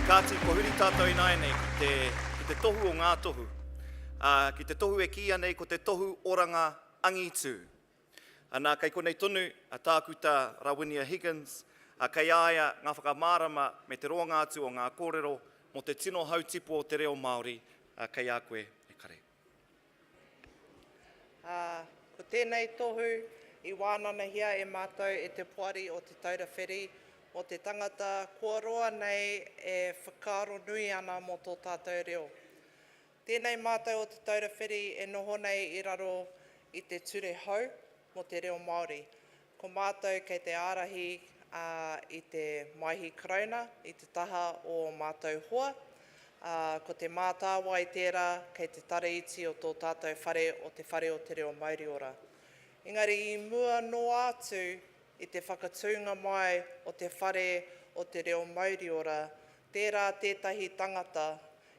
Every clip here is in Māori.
Kāti, kua huri tātou ināianei ki te, ki te tohu o ngā tohu, ā, ki te tohu e kīia nei ko te tohu oranga angitu. Anā, kei konei tonu a Tākuta Rawinia Higgins, ā, kei a ia ngā whakamārama me te roanga atu o ngā kōrero mō te tino hautipu o te reo Māori, ā, kei a koe e kare. Ā, ko tēnei tohu i wānanahia e Mātou e te Poari o Te Taura Whiri, mō te tangata kua roa nei e whakaaro nui ana mō tō tātou reo. Tēnei Mātou o Te Taura Whiri e noho nei i raro i te ture hou mō te reo Māori, Ko mātou kei te ārahi i te Maihi Karauna i te taha o ō mātou hoa, ā, ko Te Mātāwai tērā kei te tara iti o tō tātou whare o Te Whare o te Reo Mauriora. Engari i mua noa atu i te whakatūnga mai o Te Whare o te Reo Mauriora, tērā tētahi tangata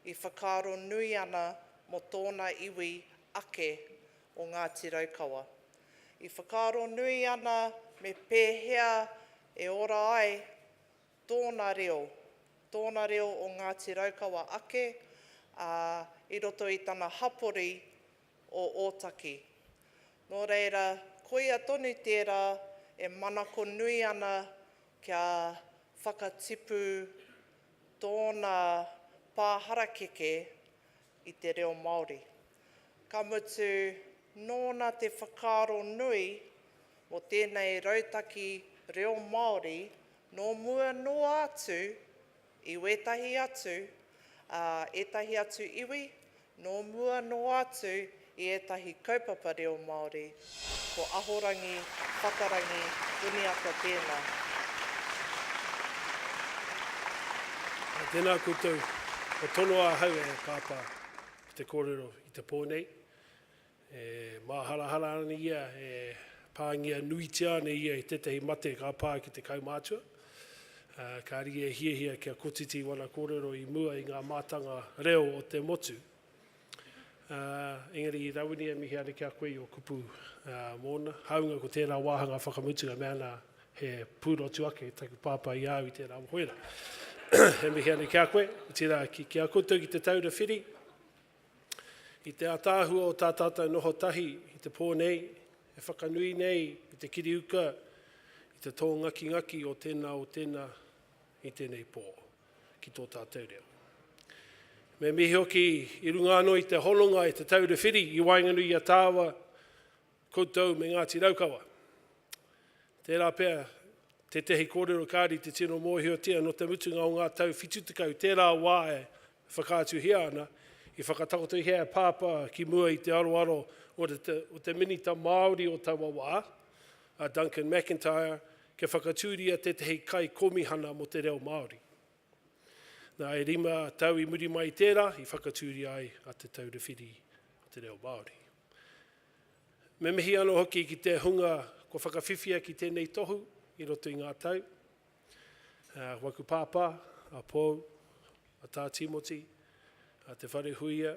i whakaaro nui ana mō tōna iwi ake o Ngāti Raukawa. I whakaaro nui ana me pēhea e ora ai tōna reo, tōna reo o Ngāti Raukawa ake, ā, i roto i tana hapori o Ōtaki. Nō reira, koia tonu tērā e manako nui ana kia whakatipu tōna pā harakeke i te reo Māori, ka mutu nōna te whakaaro nui mō tēnei rautaki reo Māori nō mua noa atu i wētahi atu, ā, ētahi atu iwi nō mua noa atu I ētahi kaupapa reo Māori, ko Ahorangi, Whatarangi, Uniata tēnā. Ā, tēnā koutou. Kua tonoa ahau e Pāpā ki te kōrero i te pō nei. E māharahara ana ia, e pāngia nuitia ana ia i tētahi mate ka pā ki te kaumātua. Ā, kāre ia e hiahia kia kotiti wana kōrero i mua i ngā mātanga reo o te motu. Ā, engari i Rawiri e mihi ana ki a koe i ō kupu mōna, hāunga ko tērā wāhanga whakamutunga mea ana he pūrotu ake taku Pāpā i a au i tērā mohoera. E mihi ana ki a koe, otirā, ki a koutou ki Te Taura Whiri, i te ātaahua o tā tātou noho tahi i te pō nei, e whakanui nei i te kiri uka, i te tō ngakingaki o tēnā o tēnā i tēnei pō. ki tō tātou reo. Me mihi hoki i runga anō i te hononga i Te Taura Whiri i waenganui i a Tāwa koutou me Ngāti Raukawa. Tērā pea tētehi kōrero kāri te tino mōhiotia nō te mutunga o ngā tau 70 tērā wā e whakaatuhia ana, i whakatakotohia e Pāpā ki mua i te aroaro o te, o te Minita Māori o taua wā, a Duncan McIntyre kia whakatūria tētahi kaikōmihana mō te reo Māori. Nā, e rima tau i muri mai i tērā, i whakatūria ai a Te Taura Whiri o te Reo Māori. Me mihi anō hoki ki te hunga kua whakawhiwhia ki tēnei tohu i roto i ngā tau, uh, waku pāpā, a Pou, a Tā Timoti, a Te Wharehuia,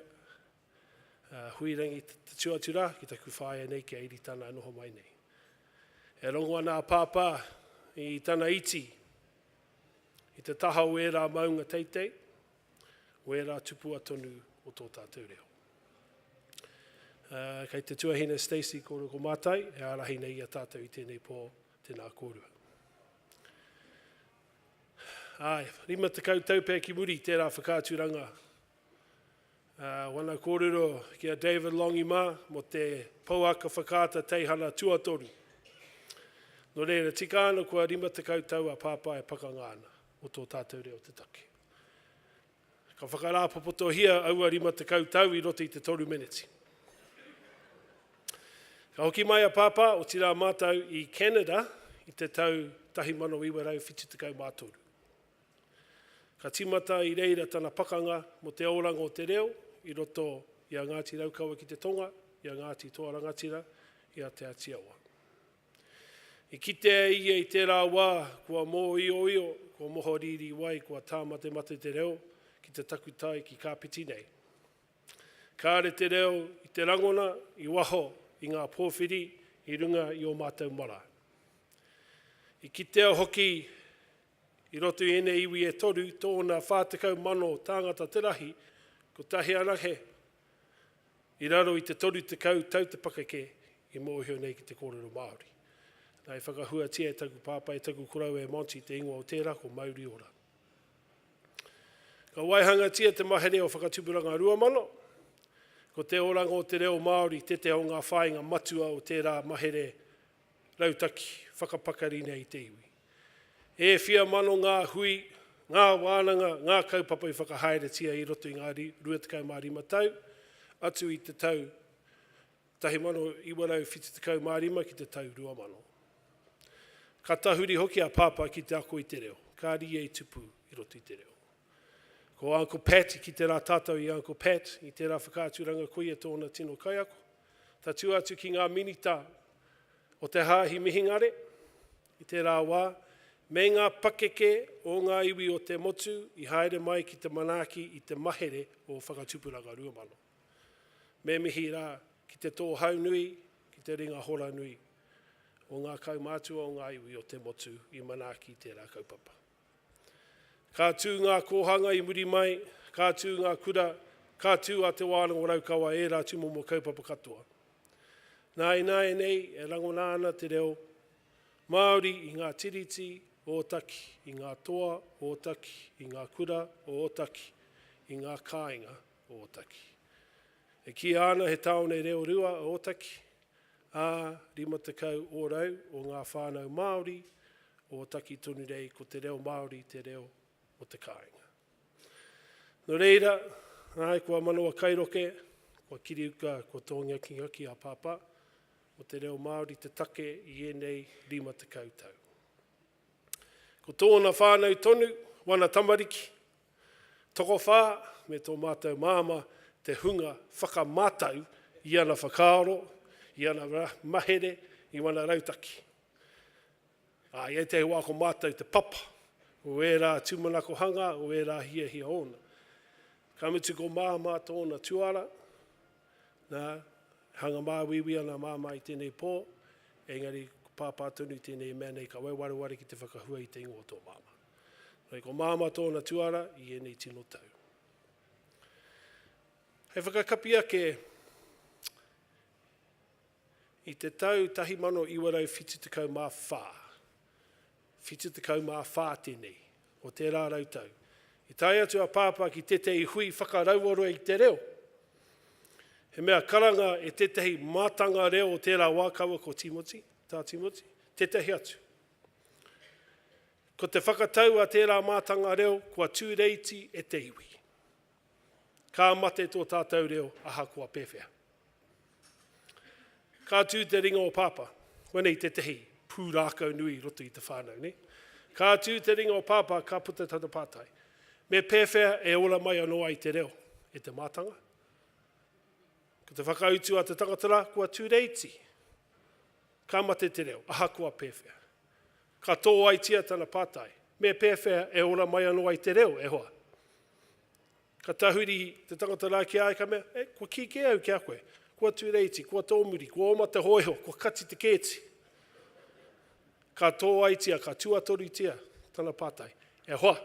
Huirangi te tū atu rā ki taku whaea nei ki a Iritana e noho mai nei. E rongo ana a Pāpā i tana iti i te taha o ērā maunga teitei, o ērā tupua tonu o tō tātou reo. Uh, kei te tuahine Stacey kōrua ko Mātai, e ārahi nei i a tātou i tēnei pō, tēnā kōrua. Ai, rima te kau tau pē ki muri tērā whakaaturanga Wana kōrero ki a David Longi mā mō te pouaka whakaata teihana tuatoru. Nō reira, tika ana kua 50 tau a Pāpā e pakanga ana mō tō tātou reo te take. Ka whakarāpopotohia aua 50 tau i roto i te toru meneti. Ka hoki mai a Pāpā, otirā mātou, i Canada i te tau 1973. Ka tīmata i reira tana pakanga mō te aoranga o te reo i roto i a Ngāti Raukawa ki te tonga, i a Ngāti Toa Rangatira, i a Te Āti Awa. I kitea e ia i tērā wā kua mōioio, kua mohorīrī wai, kua tāmatemate te reo ki te takutai, ki Kāpiti nei. Kāre te reo i te rangona, i waho, i ngā pōwhiri, i runga i ō mātou marae. I kitea hoki I roto i ēnei iwi e toru, tōna 40,000 tāngata te rahi, kotahi anake i raro i te 30 tau te pakeke i mōhio nei ki te kōrero Māori. Nā, i whakahuatia e taku pāpā, e taku koroua e Monty te ingoa o tērā ko Mauri Ora. Ka waihangatia te mahere o Whakatupuranga Rua Mano, ko te oranga o te reo Māori tēteha o ngā whāinga matua o tērā mahere Rautaki whakapakari nei te iwi. E whia mano ngā hui, ngā wānanga, ngā kaupapa i whakahaeretia i roto i ngā 25 tau, atu i te tau 1975 ki te tau 2000. Ka tahuri hoki a Pāpā ki te ako i te reo, ka rīia i tupu i roto i te reo. Ko Uncle Pat, i kite rā tātou i Uncle Pat, i tērā whakaaturanga koia tōna tino kaiako, Tatū atu ki ngā Minita o te Hāhi Mihingare i tērā wā, me ngā pakeke o ngā iwi o te motu i haere mai ki te manaaki i te mahere o Whakatupuranga Rua Mano. Me mihi rā ki te Tōhaunui, ki te Ringa Horanui o ngā kaumātua o ngā iwi o te motu i manaaki i tērā kaupapa. Ka tū ngā kōhanga i muri mai, ka tū ngā kura, ka tū a Te Wānanga Raukawa ērā tūmomo kaupapa katoa. Nā ināianei e rangona ana te reo Māori i ngā tiriti o Ōtaki, i ngā toa o Ōtaki, i ngā kura o Ōtaki, i ngā kāinga o Ōtaki. E kīia ana he tāone reo rua a Ōtaki, ā, 50 ōrau o ngā whānau Māori o Ōtaki tonu nei ko te reo Māori te reo o te kāinga. Nō reira, ahakoa manawa kairoke, kua kiriuka, kua tōngia ki ngā kī a Pāpā, ko te reo Māori te take i ēnei 50 tau. Ko tōna whānau tonu, wana tamariki, tokowhā me tō mātou māmā te hunga whakamātau i ana whakaaro, i ana mahere, i wana rautaki. Ā, i ētahi wā ko mātou te papa o ērā tūmanakohanga, o ērā hiahia ōna. Ka mutu ko māmā tōna tuara. Nā, e hanga māuiui ana a Māmā i tēnei pō, engari ko Pāpā tonu i tēnei mea nei ka waewareware ki te whakahua i te ingoa o tō Māmā. Nō reira, ko Māmā tōna tuara i ēnei tino tau. Hei whakakapi ake, i te tau 1974, 74 tēnei, o tērā rau tau, i tae atu a Pāpā ki tētahi hui whakarauora i te reo. He mea karanga e tētahi mātanga reo o tērā wā kaua ko Tīmoti, tā Tīmoti, tētahi atu. Ko te whakatau a tērā mātanga reo kua tūreiti e te iwi. Ka mate tō tātou reo ahakoa pēwhea. Ka tū te ringa o Pāpā. Koinei tētehi pūrākau nui i roto i te whānau, nē? Ka tū te ringa o Pāpā, ka puta tana pātai. Me pēwhea e ora mai anō ai te reo e te mātanga? Ko te whakautu a te tangata rā, kua tūreiti. Ka mate te reo, ahakoa pēwhea. Ka tōaitia tana pātai, Me pēwhea e ora mai anō ai te reo, e hoa? Ka tahuri te tangata rā ki a ia, ka mea, E, kua kī kē au ki a koe. Kua Tūreiti, kua Tōmuri, kua oma te hōiho, kua kati te kēti. Ka tōaitia, ka tuatorutia tana pātai, E hoa!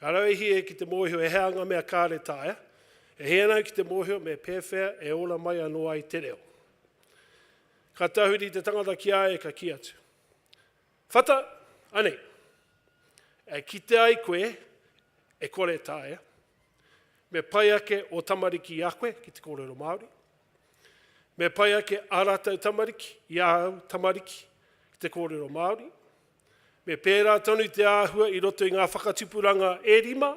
Ka rauihi ia ki te mōhio e hea ngā mea kāre taea, e hia ana ki te mōhio me pēwhea e ora mai anō ai te reo. Ka tahuri te tangata ki a ia, ka kī atu, Whata, anei. E kite ai koe, e kore taea, me pai ake o tamariki i a koe ki te kōrero Māori, me pai ake a rātou tamariki i a au tamariki ki te kōrero Māori, me pērā tonu te āhua i roto i ngā whakatupuranga e rima,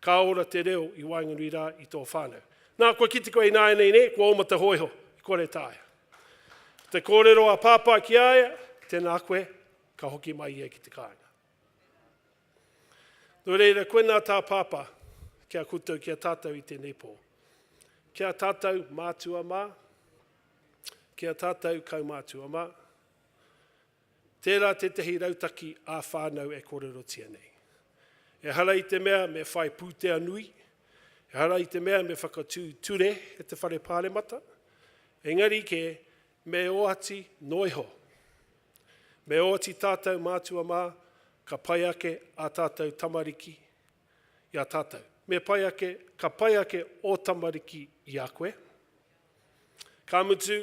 Ka ora te reo i waenganui rā i tō whānau. Nā, kua kite koe ināianei nē, kua oma te hōiho, i kore taea. Te kōrero a Pāpā ki a ia, Tēnā koe, ka hoki mai ia ki te kāinga. Nō reira, koinā tā Pāpā ki a koutou, ki a tātou i tēnei pō. Ki a tātou mātua mā, ki a tātou kaumātua mā, Tērā tētahi rautaki ā-whānau e kōrerotia nei. Ehara i te mea me whai pūtea nui, ehara i te mea me whakatū ture e te Whare Pāremata, engari kē, me oati noa iho. Me oati tātou mātua mā, ka pai ake ā tātou tamariki i a tātou. Me pai ake, ka pai ake ō tamariki i a koe. Ka mutu,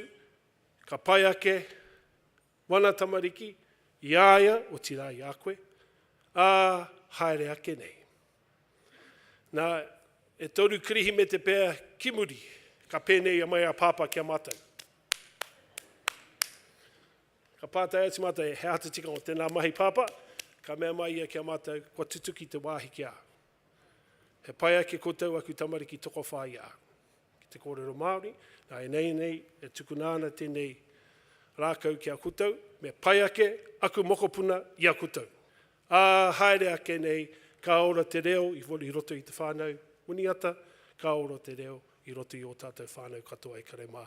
Ka pai ake wana tamariki i a ia, otirā i a koe, ā, haere ake nei. Nā, e toru Kirihimete pea ki muri, ka pēnei mai a Pāpā ki a mātou. Ka pātai atu mātou, he āta tikanga o tēnā mahi, Pāpā? Ka mea mai ia ki a mātou, kua tutuki te wāhi ki a. He pai ake koutou aku tamariki tokowhā i a au. Ki te kōrero Māori, nā ēnei nei e tukuna ana tēnei rākau ki a koutou, me pai ake aku mokopuna i a koutou. Ā, haere ake nei, ka ora te reo i i roto i te whānau, Muniata, ka ora te reo i roto i ō tātou whānau katoa e kare mā,